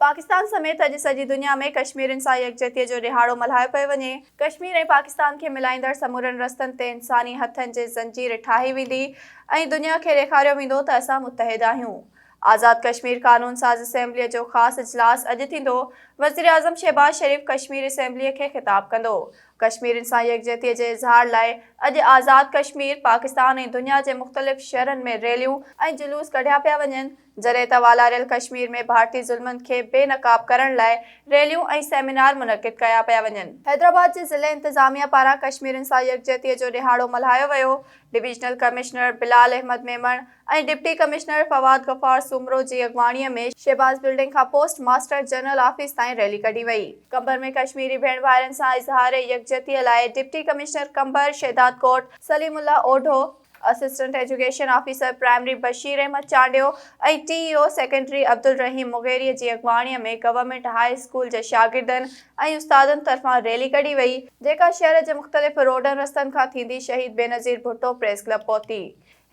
پاڪستان سميت اڄ سڄي دنيا ۾ ڪشميرين سان يڪجهتيء جو ڏهاڙو ملهايو پيو وڃي. ڪشمير ۽ پاڪستان کي ملائيندڙ سمورن رستن تي انساني هٿن جي زنجير ٺاهي ويندي ۽ دنيا کي ڏيکاريو ويندو ته اسان متحد آهيون. آزاد ڪشمير قانون ساز اسيمبليء جو خاص اجلاس اڄ ٿيندو، وزيراعظم شهباز شريف ڪشمير اسيمبليء کي خطاب ڪندو. ڪشميرين سان يڪجهتيء جي اظهار لاء اڄ آزاد ڪشمير، پاڪستان ۽ دنيا جي مختلف شھرن ۾ ريليون ۽ جلوس ڪڍيا پيا وڃن. جڏهن ته والاريل ڪشمير ۾ ڀارتي ظلمن کي بي نقاب ڪرڻ لاء ريليون ۽ سيمينار منعقد ڪيا پيا وڃن. حيدرآباد جي ضلعي انتظاميه پاران ڪشميرين سان يڪجهتيء جو ڏهاڙو ملهايو ويو، divisional commissioner Bilal Ahmed Memon ۽ deputy commissioner Fawad Ghaffar Soomro جي اڳواڻيء ۾ شهباز بلڊنگ کان پوسٽ ماسٽر جنرل آفيس تائين ريلي ڪڍي وئي. قمبر ۾ ڪشميري ڀيڻ ڀائرن سان اظهار يڪجهتيء لاء deputy commissioner Qambar Shahdadkot Saleem Allah Odho, assistant education officer primary Bashir Ahmed Chandio ۽ T E O secondary Abdulrahim Mugheri جي اڳواڻي ۾ گورنمينٽ هاء اسڪول جي شاگردن ۽ استادن طرفان ريلي ڪڍي وئي، جيڪا شهر جي مختلف روڊن رستن کان ٿيندي شهيد بينظير ڀٽو پريس ڪلب پهتي.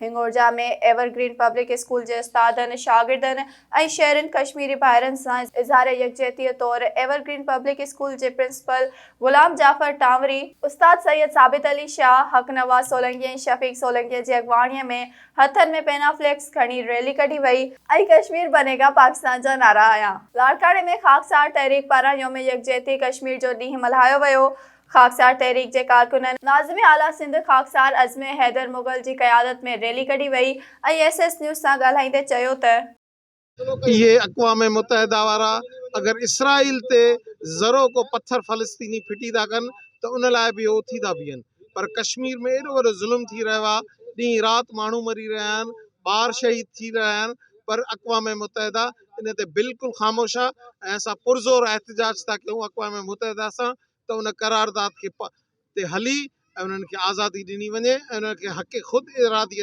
Hingorja ۾ evergreen public school جي استادن، شاگردن ۽ شهرين ڪشميري ڀائرن سان اظهار يڪجهتيء طور ايور گرين پبلڪ اسڪول جي پرنسپل غلام جعفر ٽانوري، استاد سيد ثابت علي شاهه، حق نواز سولنگي ۽ شفيق سولنگي جي اڳواڻيء ۾ هٿن ۾ پينا فليڪس کڻي ريلي ڪڍي وئي، ۽ ڪشمير بني گا پاڪستان جا نعرا هنيا. لاڙڪاڻي ۾ خاڪسار تحريڪ پاران يوم يڪجهتي ڪشمير جو ڏينهن ملهايو ويو، خاڪسار تحريڪ جي ڪارڪنن، ناظم اعليٰ سنڌ خاڪسار عزم حيدر مغل جي قيادت ۾ ريلي ڪڍي وئي ۽ ايس ايس نيوز سان ڳالهائيندي چيو ته. اهي اقوام متحده وارا اگر اسرائيل تي ذرو ڪو پٿر فلسطيني ڦٽي ٿا ڪن ته ان لاء به اهي اٿي ٿا بيهن پر ڪشمير ۾ ايڏو وڏو ظلم ٿي رهيو آهي ڏينهن رات ماڻهو مري رهيا آهن ٻار شهيد ٿي رهيا آهن پر اقوام متحده ان تي بلڪل خاموش آهي ۽ اسان پرزور احتجاج ٿا ڪيون اقوام متحده سان ته ان قرارداد کي تي هلي ۽ انهن کي آزادي ڏني وڃي ۽ انهن کي حق خود ارادي